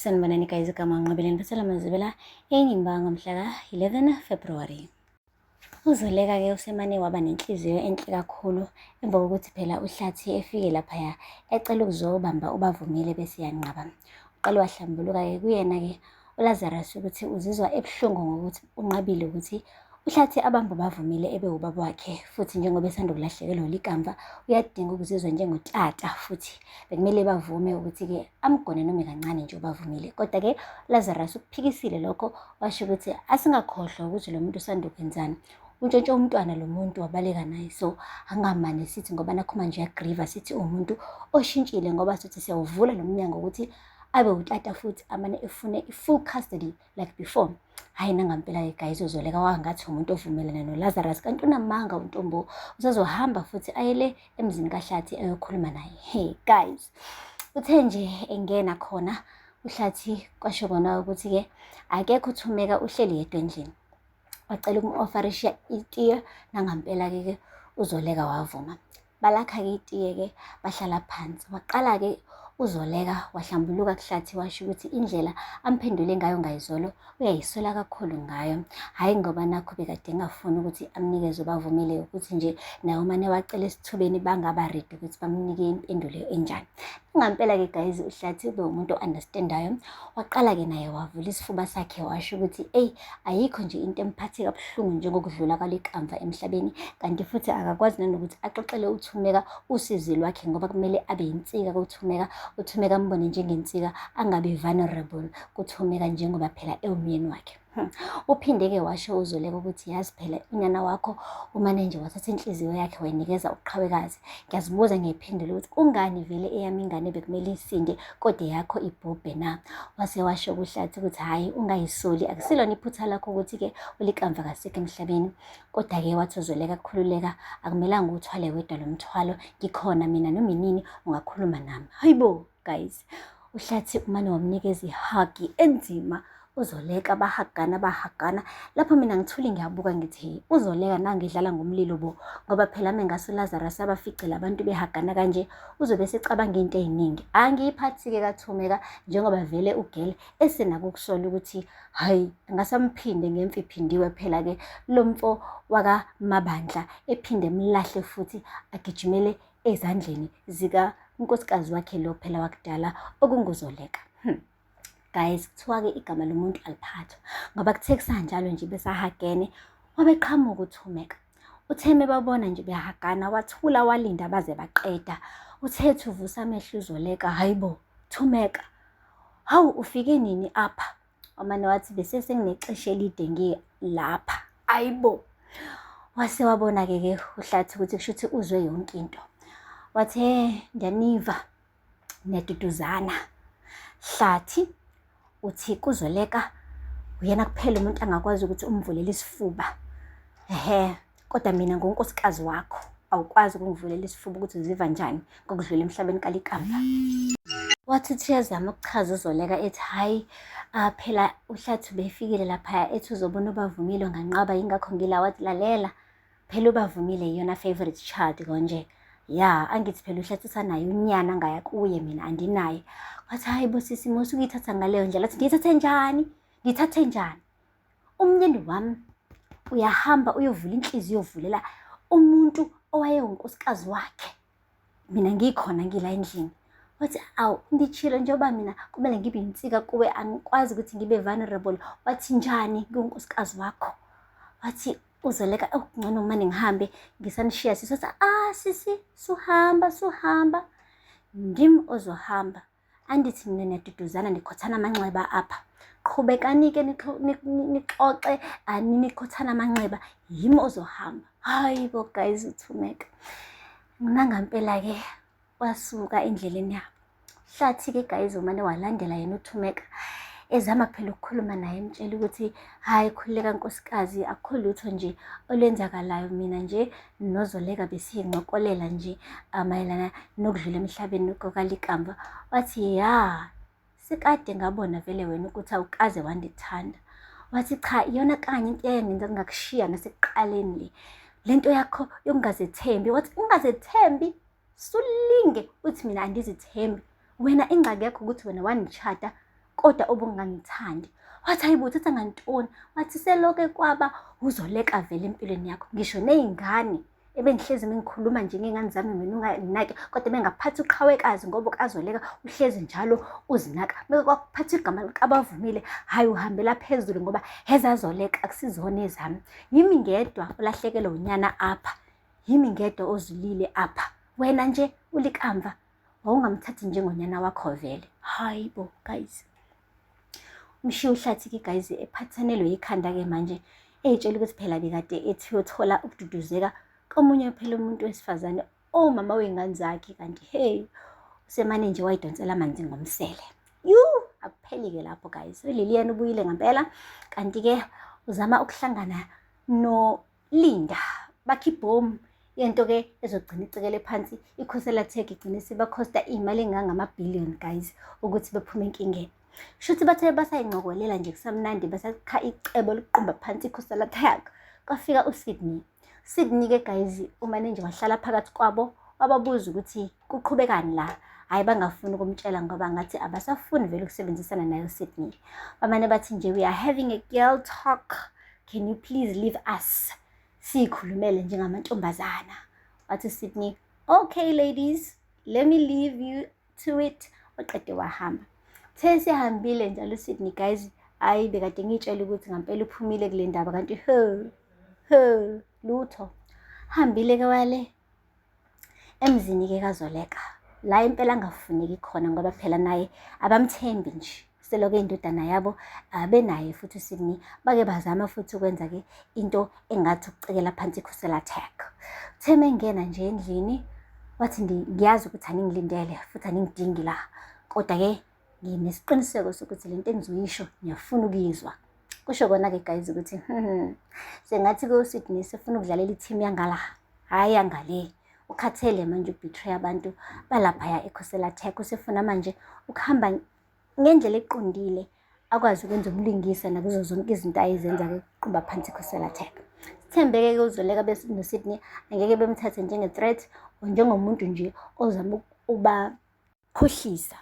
Sanibonani guys igama nqabeleni basela mazibela enyimbango mhla ka-11 February uzoleka-ke usemane waba nenhliziyo enhle kakhulu emva kokuthi phela uhlathi efike laphaya ecela ukuzobamba ubavumile bese yanqaba uqale wahlambuluka-ke kuyena-ke uLazarus ukuthi uzizwa ebuhlungu ngokuthi unqabile ukuthi uhlathi abantu bavumile ebe ubaba wakhe futhi njengoba esanda kulahlekelwa likamva uyadinga ukuzizwa njengotata futhi bekumele bavume ukuthi-ke amgone noma kancane nje ubavumile kodwa-ke lazarus ukuphikisile lokho washo ukuthi asingakhohlwa ukuthi lo muntu usanda ukwenzani untshontshe umntwana lo muntu wabaleka naye so angamane sithi ngoba nakhuma nje yagriva sithi uwumuntu oshintshile ngoba sithi siyawuvula lo mnyango ukuthi abe utata futhi amane efune i-full custody like before hhayi nangampela-ke guys uzoleka wangathi umuntu ovumelana nolazarus kanti unamanga untombo usazohamba futhi ayele emzini kahlathi ayokhuluma naye he guys uthe nje engena khona uhlathi kwasho kona ukuthi-ke akekho uthumeka uhleli yedwa endlini wacela umu-ofarishiya itiye nangampela-ke ke uzoleka wavuma Balakha-ke itiye-ke bahlala phansi. Waqala-ke uZoleka wahlambuluka kuhlathi washo ukuthi indlela amphendule ngayo ngayizolo uyayiswela kakhulu ngayo. Hhayi ngoba nakho bekade engafuni ukuthi amnikeze ubavumele ukuthi nje naye umane wacela esithubeni bangaba redi ukuthi bamnike impendulo enjani. Ngampela-ke guys uhlathi ube umuntu o-understandayo waqala-ke naye wavula isifuba sakhe washo ukuthi eyi ayikho nje into emphathe kabuhlungu njengokudlula kwaliqamva emhlabeni kanti futhi akakwazi nanokuthi axoxele uthumeka usizi lwakhe ngoba kumele abe yinsika kuthumeka uthumeka ambone njengensika angabi vulnerable kuthumeka njengoba phela ewumyeni wakhe Hmm. Uphinde-ke washo uZoleka ukuthi yazi phela unyana wakho umane nje wathatha inhliziyo yakhe wayinikeza uqhawekazi. Ngiyazibuza ngiyiphendula ukuthi kungani vele eyami ingane bekumele isinde kodwa eyakho ibhubhe na? Wase washo kuhlathi ukuthi hhayi ungayisoli akusilona iphutha lakho ukuthi-ke ulikamva kasekho emhlabeni. Kodwa-ke wathi uZoleka khululeka akumelanga uwuthwale wedwa lo mthwalo ngikhona mina noma inini ungakhuluma nami. Hayibo! guys uhlathi umane wamnikeza ihagi enzima uzoleka bahagana bahagana lapho mina ngithule ngiyabuka ngithi hey uzoleka nangidlala ngomlilo bo ngoba phela mina ngaso Lazarus abaficela abantu behagana kanje uzobe secabanga into eziningi angiyiphathike kathumeka njengoba vele ugele esenakukusola ukuthi hayi ngasamphinde ngemfi phindiwe phela ke lomfo wakamabandla ephinde mlahle futhi agijimele ezandleni zikankosikazi wakhe lo phela wakudala okunguzoleka hmm. guys kuthiwa-ke igama lomuntu aliphathwa ngoba kuthe kusanjalo nje besahagene wabeqhamuka uthumeka utheme babona nje behagana wathula walinda baze baqeda uthe thuvusa amehlo uzoleka hayi bo thumeka hawu ufike nini apha Amane wathi bese senginexesha elide ngi lapha. Ayibo. Wase wabona ke ke uhlathi ukuthi kusho ukuthi uzwe yonke into. Wathi he ndiyaniva neduduzana. Hlathi uthi kuzoleka uyena kuphela umuntu angakwazi ukuthi umvulele isifuba. Ehhe kodwa mina ngonkosikazi wakho awukwazi ukungivulela isifuba ukuthi uziva njani ngokudlula emhlabeni kalikamba wathi uthi uyazama ukuchaza uzoleka ethi hhayi uh, phela uhlathi befikile laphaya ethi uzobona ubavumile nganqaba yingakho ngila wathi lalela phela ubavumile yiyona favorite child konje ya angithi phela uhlathi usanaye unyana ngaya kuye mina andinaye wathi hhayi bosisi musuke uyithatha ngaleyo ndlela athi ngiyithathe njani ngiyithathe njani umnyeni wami uyahamba uyovula inhliziyo uyovulela umuntu owayewunkosikazi wakhe mina ngikhona ngila endlini wathi awu ndichilo njengoba mina kumele ngibe yinsika kuwe angikwazi ukuthi ngibe vulnerable wathi njani kunkosikazi wakho wathi uzoleka okungcono oh, mane ngihambe ngisanishiya sisi wathi ah sisi suhamba suhamba ndim ozohamba Andithi nina niyaduduzana nikhothana amanxeba apha. Qhubekani-ke nixoxe ani nikhothana amanxeba yimi ozohamba. Hayi bo guys uthumeka. Mina ngampela-ke wasuka endleleni yabo. Hlathi-ke guys umane walandela yena uthumeka ezama phela ukukhuluma naye emtshela ukuthi hhayi khululeka nkosikazi akukho lutho nje olwenzakalayo mina nje nozoleka besincokolela nje amayelana ah, nokudlula emhlabeni kokalikamva wathi ya sekade ngabona vele wena ukuthi awukaze wandithanda wathi cha iyona kanye into eyangenza kungakushiya nasekuqaleni le le nto yakho yokungazethembi wathi ungazethembi sulinge uthi mina angizithembi wena ingxaki yakho ukuthi wena wangishada kodwa obungangithandi wathi hayibo uthatha ngantoni wathi seloke kwaba uzoleka vele empilweni yakho ngisho ney'ngane ebengihlezi mengikhuluma nje ngey'ngane zami mina unganginaki kodwa bengaphathi uqhawekazi ngoba ukazoleka uhlezi njalo uzinaka meke kwakuphatha igama likabavumile hhayi uhambela phezulu ngoba hezazoleka akusizona ezami yimi ngedwa ulahlekelwe unyana apha yimi ngedwa ozulile apha wena nje ulikamva wawungamthathi njengonyana wakho vele hayi bo guys umshiya uhlathi-ke guys ephathanelwe yikhanda-ke manje eyitshela ukuthi phela bekade ethi uyothola ukududuzeka komunye phela umuntu wesifazane omama wey'ngane zakhe kanti hey usemane nje wayidonsela amanzi ngomsele yu akupheli-ke lapho guys uliliyana ubuyile ngempela kanti-ke uzama ukuhlangana no Linda bakhe ibhomu yento ke ezogcina icekele phansi ikhosela tech igcine sebakhosta iy'mali engangamabhillion guys ukuthi bephume enkingeni shuthi bathe basayincokolela nje kusamnandi basakha icebo lokuqumba phansi ikhosela tech kwafika usydney sydney ke guys umane nje wahlala phakathi kwabo wababuza ukuthi Kuqhubekani la? Hhayi bangafuni ukumtshela ngoba ngathi abasafuni vele ukusebenzisana naye uSydney. Bamane bathi nje we are having a girl talk. Can you please leave us? Siyikhulumele njengamantombazana. Wathi uSydney, okay ladies, let me leave you to it. Waqede wahamba. Uthe sihambile njalo uSydney guys, hhayi bekade ngiyitshela ukuthi ngampela uphumile kule ndaba kanti he he lutho. Hambile-ke wale emzini ke kazoleka la impela angafuneki khona ngoba phela naye abamthembi nje seloko indodana yabo abenaye futhi uSidney bake bazama futhi ukwenza ke into engathi ukucekela phansi ikhusela attack theme ngena nje endlini wathi ngiyazi ukuthi aningilindele futhi aningidingi la kodwa ke nginesiqiniseko sokuthi le nto engizoyisho ngiyafuna ukuyizwa kusho kona-ke guys ukuthi hmm, sengathi kosydney sefuna ukudlalela i-team yangala hhayi yangale ukhathele manje ubetray abantu balaphaya ekhosela tech usefuna manje ukuhamba ngendlela eqondile akwazi ukwenza umlingisa nakuzo zonke izinto ayezenza-ke kuqumba phansi ikhosela tech sithembeke-ke uzoleka benosydney angeke bemthathe njenge-threat or njengomuntu nje ozama uba Khohlisa.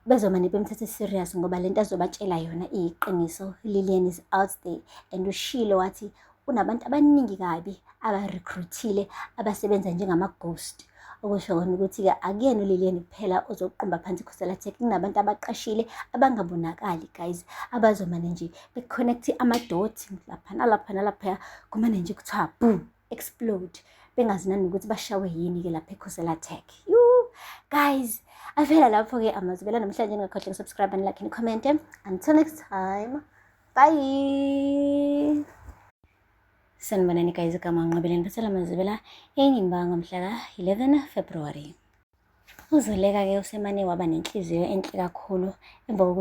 Bezomane bemthathe serious ngoba lento azobatshela yona iyiqiniso. Lilian is out there and ushilo wathi unabantu abaningi kabi abarecruitile abasebenza njengama-ghost okusho kona ukuthi-ke akuyena ulileni kuphela ozoqumba phansi ikhosela tech kunabantu abaqashile abangabonakali guys abazomane nje be-connect amadoti lapha nalapha nalaphaya kumane nje kuthiwa boom explode bengazi nanokuthi bashawe yini-ke lapha ekhosela tech yu guys avela lapho-ke amazwi bela namhlanje ningakhohle kusubscribe and like and comment until next time bye sanibonani guys igama nqabeleni basela mazibela enyimbanga mhla ka-11 february uzoleka-ke usemane waba nenhliziyo enhle kakhulu emva kokuthi